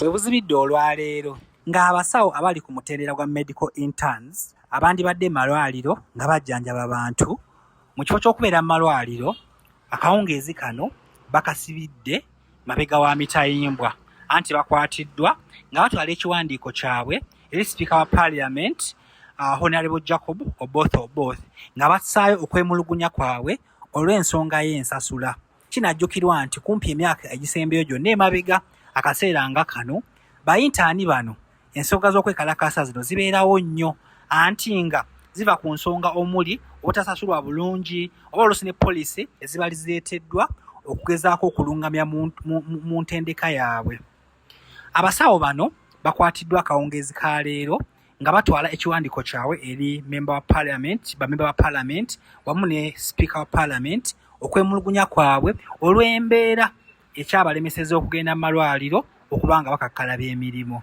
Webuzibidde olwaleero ng'abasawo abali ku mutendera gwa Medical Interns abandibadde mu malwaliro nga bajjanjaba bantu mu kifo ky'okubeera mu malwaliro akawungeezi kano bakasibidde mabega wa mitayimbwa anti bakwatiddwa nga batwala ekiwandiiko kyabwe eri sipiika wa parliament uh, honorable jacob oboth oboth nga bassaayo okwemulugunya kwabwe olw'ensonga y'ensasula kinajjukirwa nti kumpi emyaka egisembeyo gyonna emabega akaseera nga kano bayintaani bano Ensonga z'okwekalakaasa zino zibeerawo nnyo anti nga ziva ku nsonga omuli obutasasulwa bulungi oba oluusi ne poliisi ezibali zireeteddwa okugezaako okulungamya mu ntendeka yaabwe. Abasawo bano bakwatiddwa akawungeezi ka leero nga batwala ekiwandiiko kyabwe eri memba wa parliament bamemba ba parliament wamu ne sipiika wa parliament okwemulugunya kwabwe olw'embeera ekyabalemeseza okugenda mu malwaliro okuba nga bakakkalaba emirimu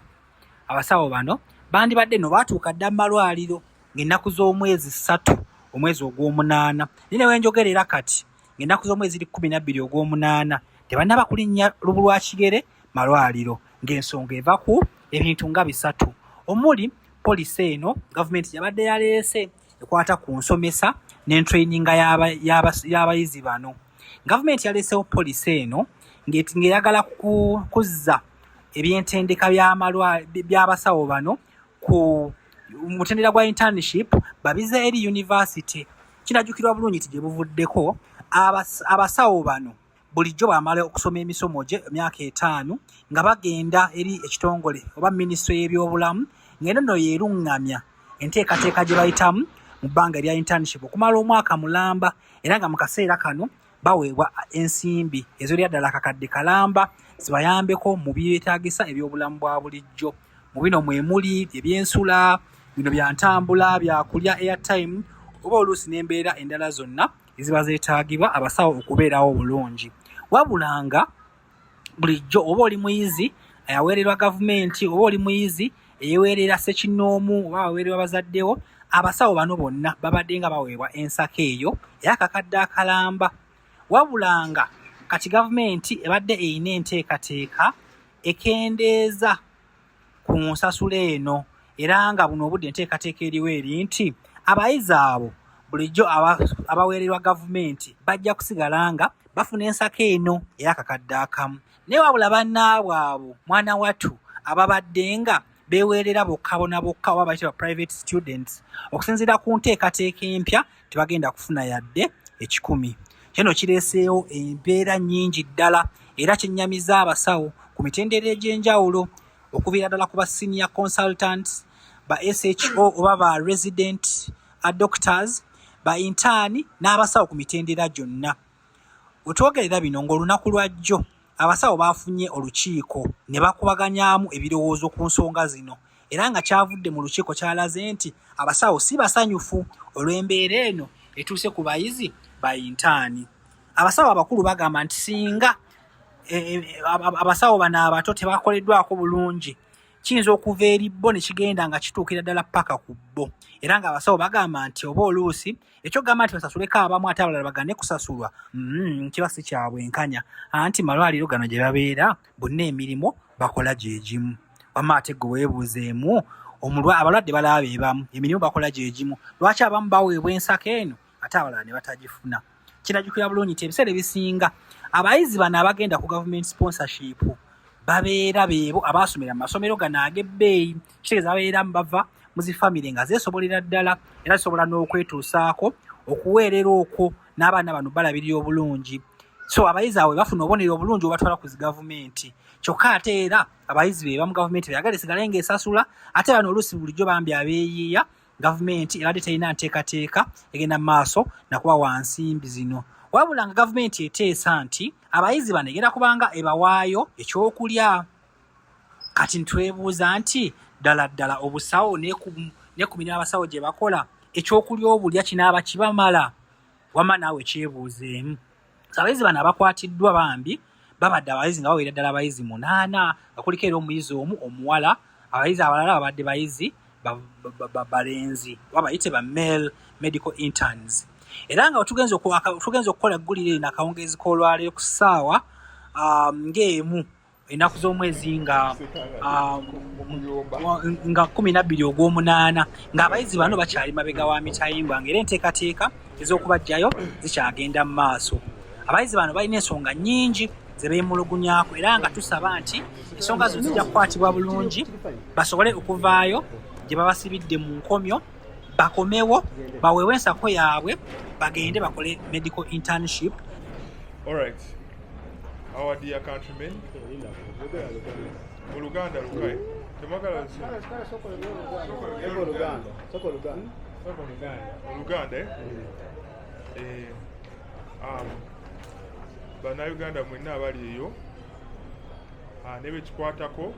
abasawo bano bandibadde no baatuuka dda mu malwaliro ng'ennaku z'omwezi ssatu omwezi ogw'omunaana naye ne wenjogera era kati ng'ennaku z'omwezi ziri kkumi nabbiri ogw'omunaana tebannaba kulinnya lubu lwa kigere malwaliro ng'ensonga eva ku ebintu nga bisatu omuli polisi eno gavumenti yabadde yaleese ekwata ku nsomesa n'entraininga y'abayizi bano gavumenti yaleesewo polisi eno ng'eyagala kuzza ebyentendeka by'abasawo bano ku mutendera gwa internship babize eri yunivasite kinajjukirwa bulungi nti gye buvuddeko abasawo bano bulijjo bw'amala okusoma emisomo gye emyaka etaano nga bagenda eri ekitongole oba minisitule y'ebyobulamu ng'eno nno yeeruŋŋamya enteekateeka gye bayitamu mu bbanga erya internship okumala omwaka mulamba era nga mu kaseera kano baweebwa ensimbi ezolya ddala akakadde kalamba zibayambeko mu byetaagisa ebyobulamu bwa bulijjo mu bino mwe muli ebyensula bino bya ntambula byakulya airtime oba oluusi n'embeera endala zonna eziba zeetaagibwa abasawo okubeerawo obulungi wabula nga bulijjo oba oli muyizi ayaweererwa gavumenti oba oli muyizi eyeweerera sekinnoomu oba aweererwa bazaddewo abasawo bano bonna babadde nga baweebwa ensako eyo era kakadde akalamba wabula nga kati gavumenti ebadde erina enteekateeka ekendeeza ku nsasula eno era nga buno obudde enteekateeka eriwo eri nti abayizi abo bulijjo abaweererwa gavumenti bajja kusigala nga bafuna ensako eno eyakakadde akamu naye wabula bannaabwe abo mwana watu ababadde nga beweerera bokka bona bokka oba bayitibwa private students okusinziira ku nteekateeka empya tebagenda kufuna yadde ekikumi. Kino kireeseewo embeera nnyingi ddala era kyennyamiza abasawo ku mitendera egy'enjawulo okuviira ddala ku ba senior consultants, ba SHO oba ba resident doctors, ba intaani n'abasawo ku mitendera gyonna. Wetwogerera bino ng'olunaku lwa jjo Abasawo baafunye olukiiko ne bakubaganyaamu ebirowoozo ku nsonga zino era nga kyavudde mu lukiiko kyalaze nti abasawo si basanyufu olw'embeera eno etuuse ku bayizi ba yintaani. Abasawo abakulu bagamba nti singa e, e, abasawo bano abato tebakoleddwako bulungi kiyinza okuva eri bo ne kigenda nga kituukira ddala paka ku bo era ng'abasawo bagamba nti oba oluusi ekyo gamba nti basasuleko abamu ate abalala bagane kusasulwa mm, kiba si kyabwenkanya anti malwaliro gano gye babeera bonna emirimu bakola gye gimu wamma ate gwe weebuuzeemu abalwadde balaba be bamu emirimu bakola gye gimu lwaki abamu baweebwa ensako eno ate abalala ne batagifuna kiragikira bulungi nti ebiseera ebisinga abayizi bano abagenda ku government sponsorship babeera beebo abaasomera mu masomero gano ag'ebbeeyi kitegeeza babeera bava mu zifamire nga zeesobolera ddala era zisobola n'okwetuusaako okuweerera okwo n'abaana bano balabirira obulungi so abayizi awe bafuna obubonero obulungi obatwala ku zigavumenti kyokka ate era abayizi be bamu gavumenti beyagala esigale ng'esasula ate bano oluusi bulijjo bambi abeeyiiya gavumenti ebadde terina nteekateeka egenda mu maaso nakuba wa nsimbi zino wabula nga gavumenti eteesa nti abayizi bano egenda kubanga ebawaayo ekyokulya kati ntwebuuza nti ddala ddala obusawo nekumira abasawo gye bakola ekyokulya obulya kinaaba kibamala wama naawe kyebuuzeemu abayizi bano abakwatiddwa bambi babadde abayizi nga bawera ddala abayizi munaana nga kuliko era omuyizi omu omuwala abayizi abalala babadde bayizi balenzi oba bayite ba male medical interns era nga tugenza okukola eggulire lino akawungeezi k'olwaleero ku ssaawa um, ng'emu ennaku z'omwezi nga ah, nga kumi nabbiri ogw'omunaana ng'abayizi bano bakyali mabega wa mitayimbwa nga era enteekateeka ez'okubajjayo zikyagenda mu maaso abayizi bano balina ensonga nnyingi ze beemulugunyako era nga tusaba nti ensonga zino zijja kukwatibwa bulungi basobole okuvaayo gye babasibidde mu nkomyo bakomewo baweewo ensako yaabwe bagende bakole medical internship All right. our dear countrymen mu luganda lukae temwagala oluganda eh? eh, um, banauganda mwenna abali eyo ah, nebekikwatako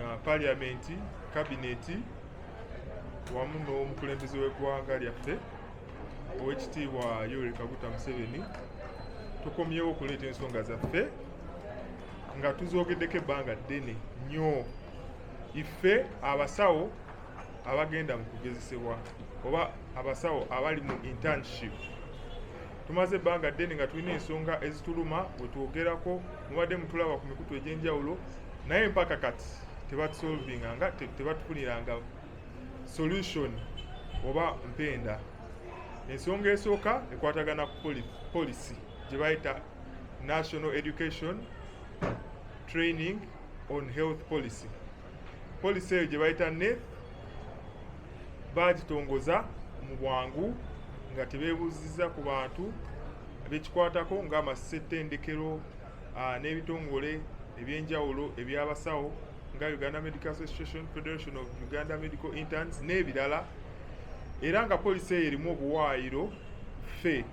ah, paliamenti kabineti wamu n'omukulembeze w'eggwanga lyaffe owekitiibwa yoweri kaguta museveni tukomyewo okuleeta ensonga zaffe nga tuzogeddeko ebbanga ddene nnyo ife abasawo abagenda mu kugezesebwa oba abasawo abali mu internship tumaze ebbanga ddene nga tulina ensonga ezituluma wetwogerako mubadde mutulaba ku mikutu egyenjawulo naye mpaka kati tebatusolvinga nga tebatufuniranga solution oba mpenda ensonga esooka ekwatagana ku policy gye bayita national education training on health policy policy eyo gye bayita neth baagitongoza mu bwangu nga tebeebuuzizza ku bantu bekikwatako ng'amasetendekero ah, n'ebitongole ebyenjawulo eby'abasawo nga Uganda Medical Association, Federation of Uganda Medical Interns n'ebirala era nga poliisi eyo erimu obuwaayiro ffe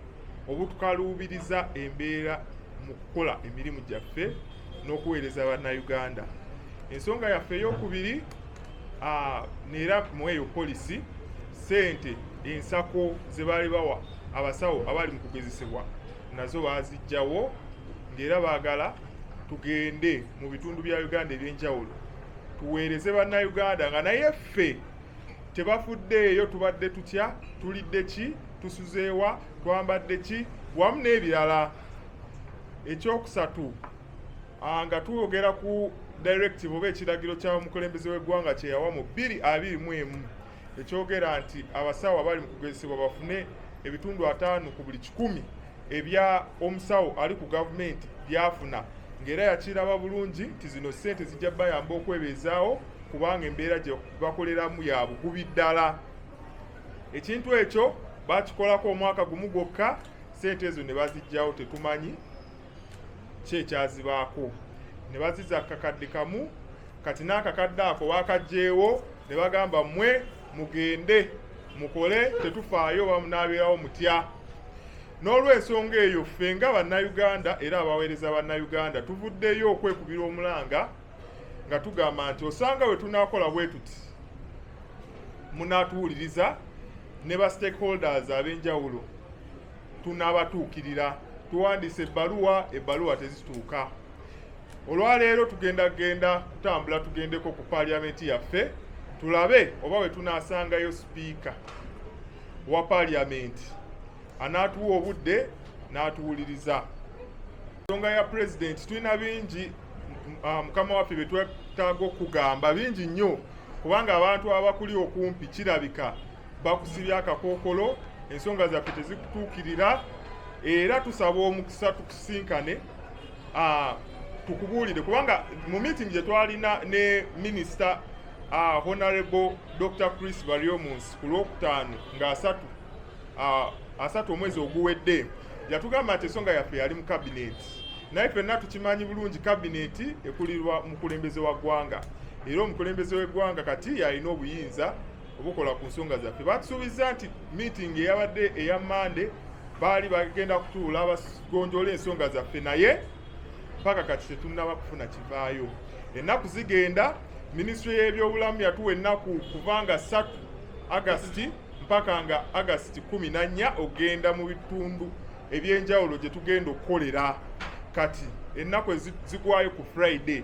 obutukaluubiriza embeera mu kukola emirimu gyaffe n'okuweereza bannayuganda ensonga yaffe eyokubiri neera mu eyo poliisi ssente ensako ze baali bawa abasawo abaali mu kugezesebwa nazo baazijjawo ng'era baagala tugende mu bitundu bya uganda ebyenjawulo tuweereze bannayuganda nga naye ffe tebafuddeeyo tubadde tutya tulidde ki tusuzeewa twambadde ki wamu n'ebirala ekyokusatu ah, nga twogera ku directive oba ekiragiro kya mukulembeze w'eggwanga kyeyawa mu bbiri abiri mu emu ekyogera nti abasawo abali mu kugezesebwa bafune ebitundu ataano ku buli kikumi ebya omusawo ali ku gavumenti byafuna ng'era yakiraba bulungi nti zino ssente zijja bayamba okwebeezaawo kubanga embeera gye bakoleramu ya bugubi ddala ekintu ekyo bakikolako omwaka gumu gwokka ssente ezo ne bazijjawo tetumanyi ki ekyazibaako ne baziza kakadde kamu kati n'akakadde ako baakajjeewo ne bagamba mmwe mugende mukole tetufaayo bamunaabeerawo mutya n'olwensonga eyo ffe nga bannayuganda era abaweereza bannayuganda tuvuddeyo okwekubira omulanga nga tugamba nti osanga we tunaakola bwe tuti munaatuwuliriza ne ba stakeholders ab'enjawulo tunaabatuukirira tuwandiise ebbaluwa ebbaluwa tezituuka olwaleero tugenda genda kutambula tugendeko ku paaliyamenti yaffe tulabe oba bwe tunaasangayo sipiika wa paaliyamenti anaatuwa obudde n'atuwuliriza ensonga ya pulezidenti tulina bingi ah, mukama waffe bye twetaaga okugamba bingi nnyo kubanga abantu abakuli okumpi kirabika bakusibya akakookolo ensonga zaffe tezikutuukirira era tusaba omukisa tusinkane ah, tukubuulire kubanga mu meeting gye twalina ne minisita ah, honorable dr chris bariomuns ku lwokutaano nga asatu ah, asatu omwezi oguwedde yatugamba nti ensonga yaffe yali mu kabineeti naye fenna tukimanyi bulungi kabineeti ekulirwa mukulembeze wa ggwanga era omukulembeze w'eggwanga kati yalina obuyinza obukola ku nsonga zaffe batusuubizza nti miitingi eyabadde eya mande baali bagenda kutuula bagonjoola ensonga zaffe naye mpaka kati tetunnaba kufuna kivaayo ennaku zigenda minisitule y'ebyobulamu yatuwa ennaku kuvanga ssatu agasiti mpaka nga agasiti kumi na nnya okugenda mu bitundu ebyenjawulo gye tugenda okukolera kati ennaku ezigwayo ku friday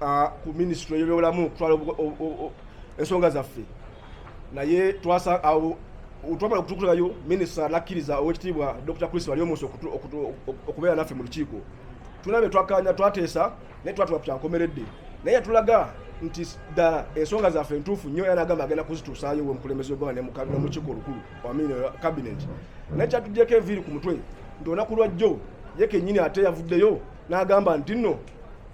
ah, ku minisitule eyobyobulamu okutwala ensonga zaffe naye twasa awo twamala okutukulayo minisita nakkiriza owekitiibwa dr chris waliomusi okubeera naffe mu lukiiko tulina betwakanya twateesa naye twatula kukyankomeredde naye yatulaga nti ddala ensonga zaffe entuufu nnyo era agamba agenda kuzituusaayo we mukulembeze ogwaba nemukiiko olukulu wamini kabinet naye kyatugyeko enviiri ku mutwe nti olunaku lwajjo ye kenyini ate yavuddeyo n'agamba nti nno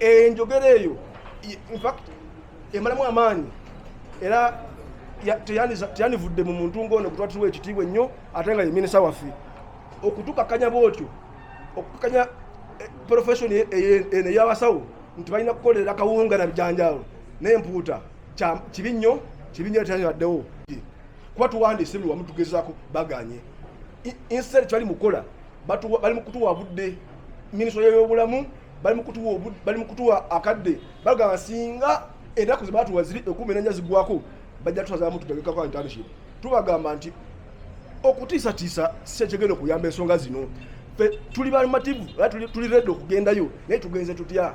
enjogera eyo infact emalamu amaanyi era teyanivudde mu muntu ng'ono kutwatiriwa ekitiibwa ennyo ate nga ye minisa waffe okutukakanya bwotyo okukakanya eh, profession e, e, eno eyabasawo nti balina kukolera kawunga na bijanjaalo n'empuuta kibi nnyo kibi nnyo teyanibaddewo kuba tuwandiise buli wamu tugezako baganye instead kyali mukola bali mukutuwa budde minisita yeyobulamu bali mukutuwa akadde bagamba singa enaku zebatuwa ziri ekumi enanya zigwako bajja tusazamu tutegekako internship tubagamba nti okutiisatiisa sikyekigenda okuyamba ensonga zino fe tuli bamativu era tuli redi okugendayo naye tugenze tutya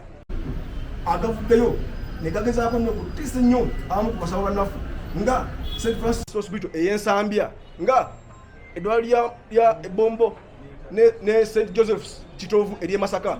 agavuddeyo negagezaako nyo kutiisa ennyo abamu ku basaba bannaffe nga st francis hospital eyensambya nga eddwaliro lya ebombo ne st josephs kitovu ery'e masaka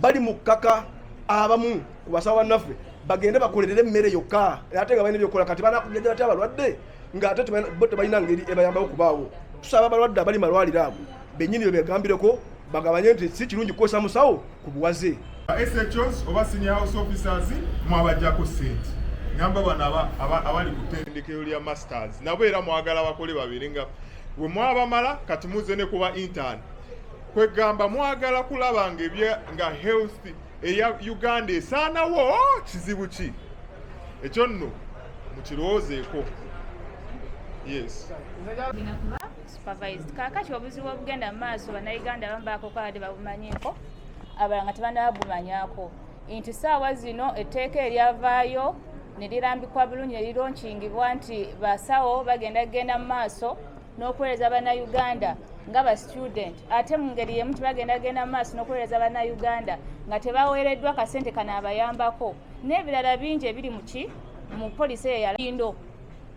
bali mu kkaka abamu ku basawo bannaffe bagende bakolerere emmere yokka ate nga balina ebyokukola kati banakujajja batya abalwadde nga ate bo tebalina ngeri ebayambawo kubaawo tusaba abalwadde abali malwaliro ago bennyini bebegambireko bagabanye nti si kirungi kukozesa musawo ku buwaze SHOs oba senior house officers mwabajjako sente ngamba bano abali ku tendekero lya masters nabo era mwagala bakole babiri nga we mwabamala kati muze ne kuba intern kwegamba mwagala kulaba nga ebye nga health eya uganda esaanawo kizibu ki ekyo nno mukirowoozeeko yes supervised kaakati obuzibu obugenda mu maaso bannayuganda abamu bakokalade babumanyiiko abalala nga tebanaba bumanyako nti saawa zino etteeka eryavaayo ne lirambikwa bulungi ne lironkingibwa nti basawo bagenda kugenda mu maaso n'okuweereza bannayuganda nga ba student ate mu ngeri yemu tibagenda genda mu maaso n'okuweereza bannayuganda nga tebaweereddwa kasente kanaabayambako n'ebirala bingi ebiri muki mu polisi eyo yalindo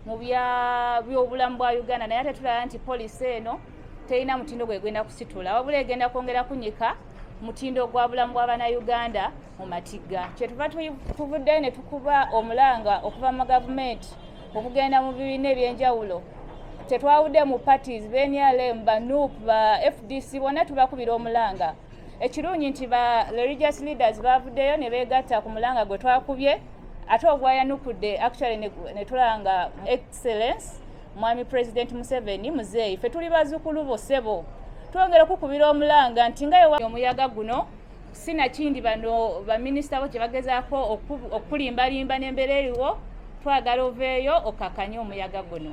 mu byobulamu bwa uganda naye ate tulaba nti polisi eno terina mutindo gwegenda kusitula wabula egenda kwongera kunyika mutindo gwa bulamu bwabanauganda mu matigga kyetuva tuvuddeyo ne tukuba omulanga okuva mu gavumenti okugenda mu bibiina ebyenjawulo tetwawudde mu parties benrm ba nup ba fdc bonna tubakubira omulanga ekirungi nti ba religious leaders bavuddeyo ne beegatta ku mulanga gwe twakubye ate ogwayanukudde actually ne tulaba nga excellence mwami president museveni muzeeyi fe tuli bazukulu bo sebo twongera okukubira omulanga nti nga yewa omuyaga guno sinakindi bano baminisita bo kye bagezaako okukulimbalimba n'embeera eriwo twagala oveeyo okakanye omuyaga guno